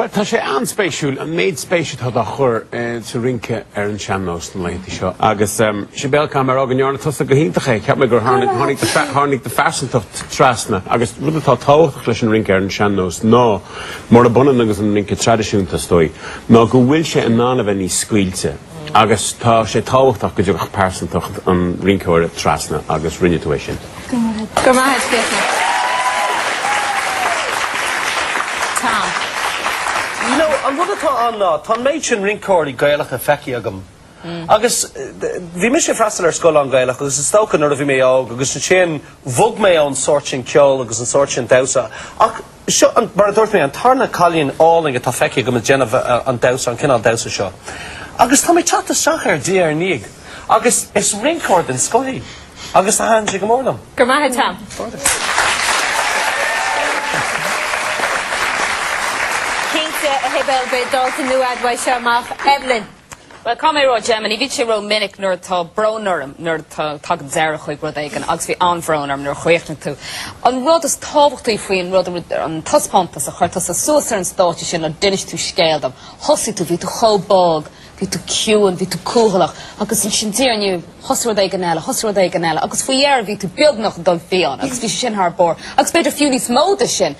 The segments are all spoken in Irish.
Bhuel, tá sé an-spéisiúil, an méid spéise atá dá chur sa rince ar an sean-nós na laethanta seo. Agus Sibéal, caithfidh mé a rá go ndearna tusa go hiontach é. Cheap mé gur tháinig do phearsantacht trasna. Agus rud atá tábhachtach leis an rince ar an sean-nós ná, murab ionann agus an rince traidisiúnta is dóigh, ná go bhfuil sé in ann a bheith níos scaoilte. Agus tá sé tábhachtach go dtiocfadh pearsantacht an rinceora trasna agus rinne tú é sin. Go raibh maith agat. Go raibh maith agat, Fiachra. Tom, bhuel, an rud atá ann ná, tá an méid sin rinceoirí Gaelach feicthe agam, agus bhí mise ag freastal ar scoil an-Ghaelach agus is dócha nuair a bhí mé óg agus ansin bhog mé ón sórt sin ceoil agus an sórt sin damhsa, ach, Seo, mar a dúirt mé, an tarna cailín álainn atá feicthe agam ag déanamh an damhsa, an cineál damhsa seo. Agus tá mé ag teacht isteach air diaidh ar ndiaidh agus is rinceoir den scoth í agus thaitin sé go mór liom. Go raibh maith agat. Cinnte, a Shibéal, beidh dalta nua agat seo amach. Evelyn. Bhuel, caithfidh mé a rá, domsa, bhíonn sé ró-mhinic nuair atá brón orm, nuair a thagann deireadh chuig rud éigin agus bhí an-bhrón orm nuair a chríochnaigh tú. An rud is tábhachtaí faoin rud an taispeántas a chuir tusa suas ar an stáitse sin ná d'inis tú scéal dom. Thosaigh tú, bhí tú chomh bog, bhí tú ciúin, bhí tú cúthalach agus ansin diaidh ar ndiaidh thosaigh rud éigin eile, thosaigh rud éigin eile agus faoi dheireadh bhí tú beagnach dul fiáin agus bhí sé sin thar barr agus b'fhéidir fiú níos mó de sin.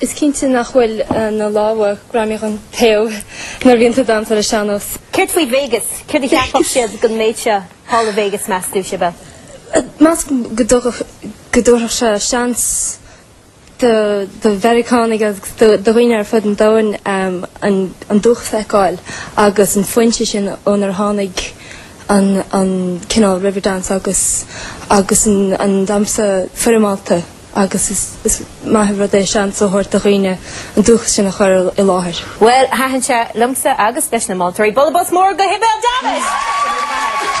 Is cinnte nach bhfuil na lámha greamaithe den taobh nuair a bhíonn tú ag damhsa ar an sean-nós. Céard faoi Vegas? Céard a cheapfadh siad den méid seo thall i Vegas, meas tú, Sibéal? Measaim go dtugadh, go dtabharfadh sé seans do, do Mheiriceánaigh agus do, do dhaoine ar fud an domhain um, an, an dúchas a fheiceáil agus an fhoinse sin ónar tháinig an, an cineál Riverdance agus, agus an, an damhsa foirmeálta. agus is maith an rud é seans a thabhairt do dhaoine an dúchas sin a chur i láthair. Bhuel, thaitin sé liomsa agus leis na moltóirí. Bualadh bos mór do Shibéal Davitt!